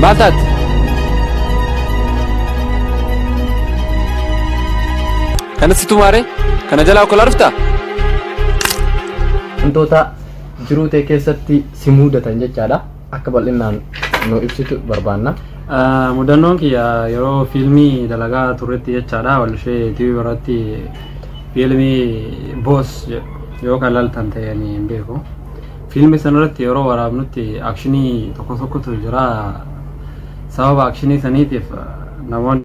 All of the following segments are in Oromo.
Maal taate? Kana situ maare? Kana jalaa okolaa dhufta? Wantoota jiruu ta'e keessatti si muudatan jechaadha. akka bal'innaan nu ibsitu barbaanna. Mudannoon kiyya yeroo fiilmii dalagaa turretti jechaadha walshee TV irratti fiilmii boos jedhu yoo kan laltan ta'e ani hin beeku. Fiilmii sanarratti yeroo waraabnutti akshinii tokko tokkotu jira. Sababa akshinii saniitiif namoonni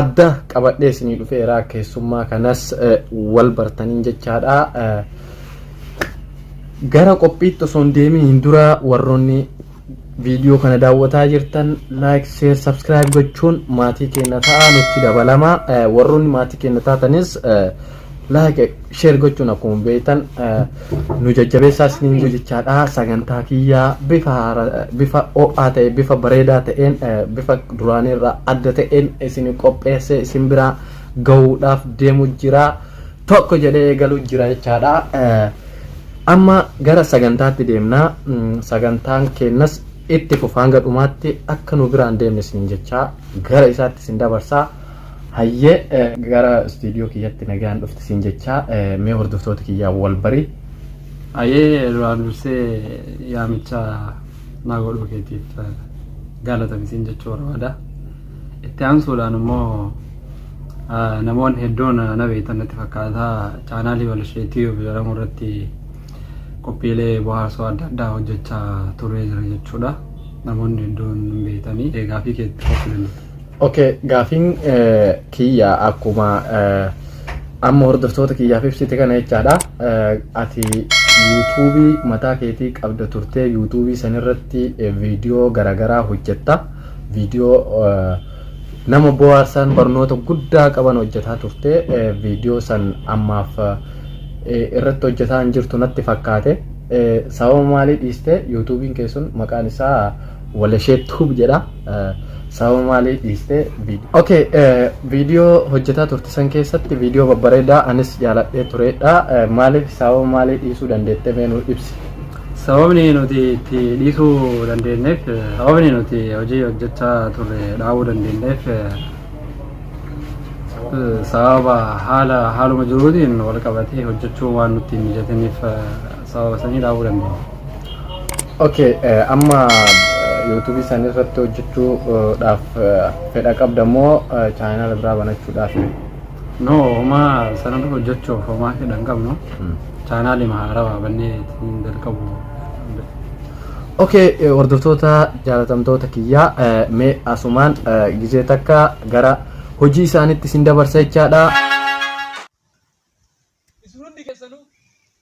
adda qabadhee isinii dhufeera keessummaa kanas wal bartaniin jechaadha gara qophiitti osoo hin deeminiin dura warroonni viidiyoo kana daawwataa jirtan laayik sheer sabskiraayib gochuun maatii keenya ta'aa nutti dabalama warroonni maatii keenya taatanis like share gochuun akkuma beektan nu jajjabeessaa isiniin jechaadha sagantaa kiyyaa bifa bifa ho'aa ta'e bifa bareedaa ta'een bifa duraanii irraa adda ta'een isin qopheessee isin biraa gahuudhaaf deemu jira tokko jedhee eegalu jira jechaadha amma gara sagantaatti deemna sagantaan keenyas itti fufa hanga dhumaatti akka nu biraan deemne isin jechaa gara isaatti isin dabarsaa Hayyee gara istuudiyoo kiyyatti nagaan dhufte siin jechaa mee hordoftoota kiyyaan wal bari. Ayee duraan dursee yaamicha naa godhuu keetiif gaalatami siin jechuu barbaada. Itti aansuudhaan immoo namoonni hedduun na beektan natti fakkaata chaanaalii Balashee Tiyuub jedhamu irratti qophiilee bohaarsoo adda addaa hojjechaa turee jira jechuudha. Namoonni hedduun hin beektanii eegaa fi keetti qophii danda'u. Okay, gaafiin eh, kiyya akkuma eh, amma hordoftoota kiyyaaf ibsite kana jechaadha. Eh, Ati yuutuubii mataa keetii qabda turtee yuutuubii sanirratti eh, viidiyoo garaagaraa hojjetta. Viidiyoo eh, nama bohaarsan barnoota guddaa qaban hojjetaa turte eh, viidiyoo san ammaaf eh, irratti hojjetaa hin jirtu natti fakkaate. Eh, Sababa maalii dhiiste yuutuubiin kee sun maqaan isaa Walashee Tube jedha. Sababa maaliif dhiistee viidiyoo. Okay, viidiyoo hojjetaa turte san keessatti viidiyoo babbareedaa anis jaaladhee turedha. Maaliif sababa maalii dhiisuu dandeettee mee nuu ibsi. Sababni nuti itti dhiisuu dandeenyeef sababni nuti hojii hojjechaa turre dhaabuu dandeenyeef sababa haala haaluma jiruutiin wal qabatee hojjechuu waan nutti hin mijatiniif sababa sanii dhaabuu dandeenya. Okay, eh, amma YouTube isaanii irratti hojjechuudhaaf eh, fedha qabda moo eh, chaayinaala biraa banachuudhaaf? No, homaa sana dura hojjechuuf homaa fedha hin qabnu. Chaayinaali haarawaa bannee ittiin jalqabu. Okay, eh, hordoftoota jaalatamtoota kiyyaa eh, mee asumaan eh, gizee takka gara hojii isaaniitti isin dabarsa jechaadha. Isin hundi keessanuu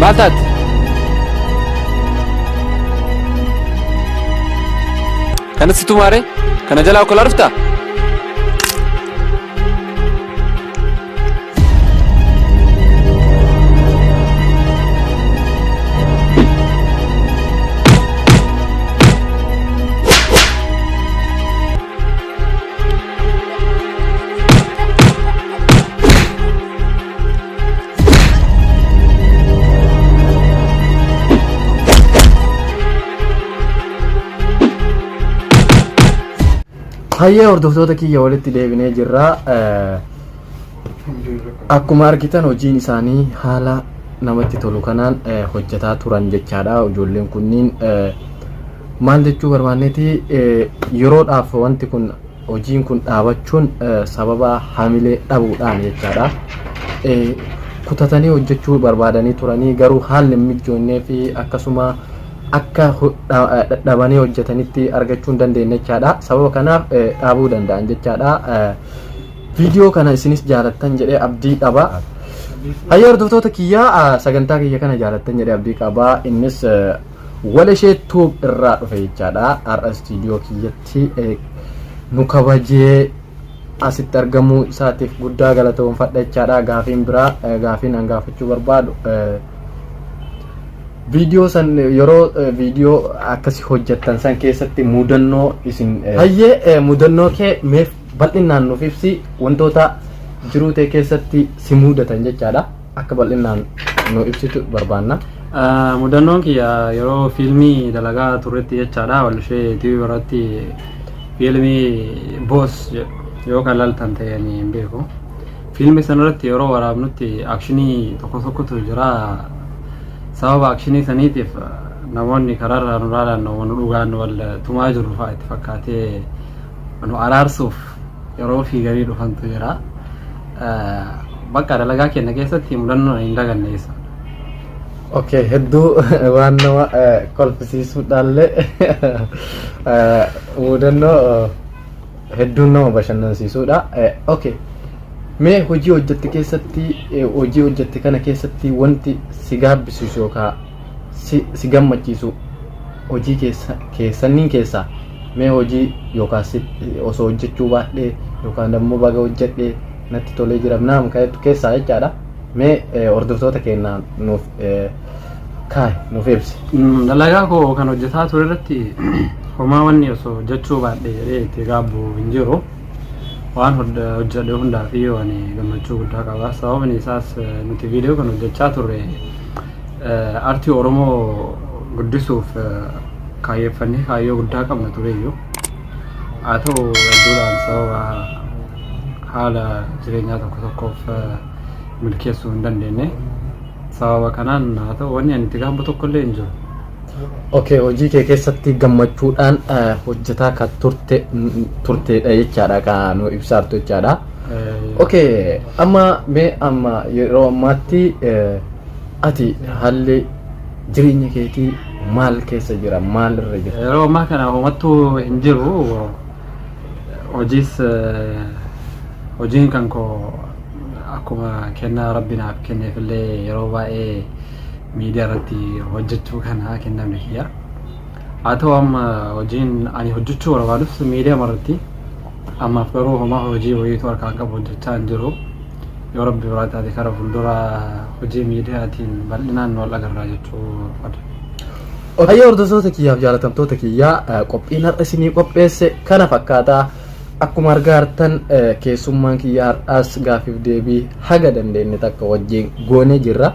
Maal taate? Kana situ maaree? Kana jalaa okkolaa dhuftaa? Hayyee hordoftoota kiyya walitti deebinee jirra. Eh, Akkuma argitan hojiin isaanii haala namatti tolu kanaan eh, hojjetaa turan jechaadha. Ijoolleen kunniin eh, Maal jechuu barbaanneeti yeroodhaaf wanti kun hojiin kun dhaabachuun sababa hamilee dhabuudhaan jechaadha. Kutatanii hojjechuu barbaadanii turanii garuu haalli hin mijjoonnee fi akkasuma akka dhadhabanii hojjetanitti argachuu hin dandeenye jechaadha. Sababa kanaaf dhaabuu danda'an jechaadha. Viidiyoo kana isinis jaalattan jedhee abdii qaba. Hayya hordoftoota kiyyaa sagantaa kiyya kana jaalattan jedhee abdii qaba. Innis Waleshee tuub irraa dhufe jechaadha. Har'a istiidiyoo kiyyatti nu kabajee asitti argamuu isaatiif guddaa galatoomfadha jechaadha. Gaafiin biraa gaafiin an gaafachuu barbaadu viidiyoo san yeroo viidiyoo akkasi hojjettan san keessatti mudannoo isin hayyee mudannoo kee meef bal'inaan nuuf ibsi wantoota jiruu tee keessatti si mudatan jechaadha. akka bal'innaan nu ibsitu barbaanna. Mudannoon kiyya yeroo fiilmii dalagaa turretti jechaadha walshee TV irratti fiilmii boos jedhu yoo kan laltan ta'e ni hin beeku. Fiilmii sanarratti yeroo waraabnutti akshinii tokko tokkotu jira. Sababa akshinii saniitiif namoonni karaarraa nu laalaan nu dhugaan wal tumaa jiru fa'aa itti fakkaatee nu araarsuuf Yeroo fi garii dhufantu jira. Bakka dalagaa keenya keessatti mudannoo hin daganne keessa. Okay, hedduu waan nama kolfisiisuudhaallee mudannoo hedduun nama bashannansiisuudha. Okay, mee hojii hojjette keessatti hojii hojjette kana keessatti wanti si gaabbisiisu yookaan si, si gammachiisu hojii keessa, keessanniin keessaa mee hojii yookaan si, osoo hojjechuu baadhee yookaan ammoo baga hojjedhee natti tolee jira naam kaa'etu keessaa jechaadha mee eh, hordoftoota keenya nuuf eh, kaa'e nuuf ibsi. Mm, dalagaa koo kan hojjetaa ture irratti homaa wanni osoo hojjechuu baadhe jedhee itti gaabbu hin jiru. waan hojjedhe hundaa fi waan gammachuu guddaa qaba sababni isaas nuti viidiyoo kan hojjechaa turre artii oromoo guddisuuf kaayyeffannee kaayyoo guddaa qabna tureyyuu haa ta'u hedduudhaan sababa haala jireenyaa tokko tokkoof milkeessuu hin dandeenye sababa kanaan haa ta'u wanni ani itti gaabbu tokkollee hin jiru Okay hojii kee keessatti gammachuudhaan eh, hojjetaa kan turte n- turteedha jechaadha kan nu ibsaartu jechaadha. Okay amma mee amma yeroo ammaatti eh, ati haalli jireenya keetii maal keessa jira maal irra jira? Yeroo ammaa kana homattuu hin jiru. Hojiis eh, hojiin kan koo akkuma kennaa rabbi naaf kenneefillee yeroo baay'ee miidiyaa irratti hojjechuu kan haa kennamne kiyya. Haa ta'u amma hojiin ani hojjechuu barbaadus miidiyaa irratti ammaaf garuu homaa hojii wayiitu harkaa qabu hojjechaa hin jiru. Yoo rabbi biraa taate kara fuuldura hojii miidiyaatiin bal'inaan wal agarraa jechuu barbaada. Hayyoo hordoftoota kiyyaaf jaalatamtoota kiyyaa qophiin har'a isinii qopheesse kana fakkaataa Akkuma argaa jirtan keessummaan kiyya har'aas gaaffiif deebii haga dandeenye takka wajjin goonee jirra.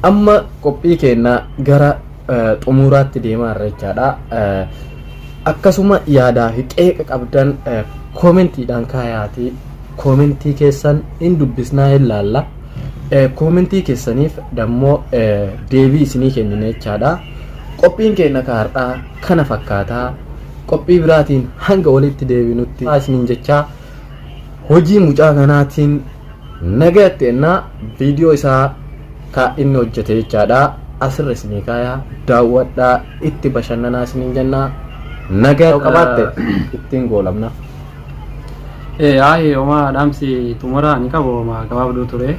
Amma qophii keenya gara xumuraatti deemaa irra jechaadha. Akkasuma yaadaa fi qeeqa qabdan koomentiidhaan kaayaatii koomentii keessan hin dubbisnaa hin laalla. Koomentii keessaniif dammoo deebii isinii kennina jechaadha. Qophiin keenya kaardhaa kana fakkaata. Qophii biraatiin hanga walitti deebinutti isiniin jechaa hojii mucaa kanaatiin nagayatti ennaa viidiyoo isaa ka inni hojjete jechaadha. Asirra isinii kaaya daawwadhaa itti bashannanaa isiniin jenna. Nagaa yoo qabaatte ittiin goolabna. Ee aayee homaa dhaamsi xumuraa ni qabu homaa gabaabduu ture.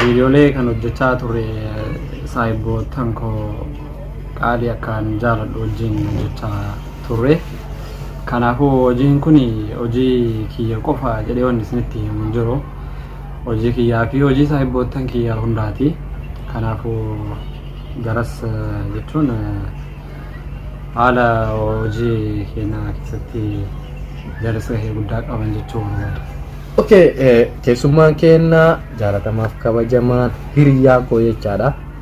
Viidiyoolee kan hojjechaa ture saayibboottan koo Qaalii akkaan jaaladhu wajjin hojjechaa turre. Kanaafuu hojiin kun hojii kiyya qofa jedhee wanni isinitti himu hin jiru. Hojii kiyyaa fi hojii saahibboottan kiyyaa hundaati. Kanaafuu garas jechuun haala hojii keenyaa keessatti jaras gahee guddaa qaban jechuu barbaada. Okay, keessummaan keenya jaalatamaaf kabajamaan hiriyaa koo jechaadha.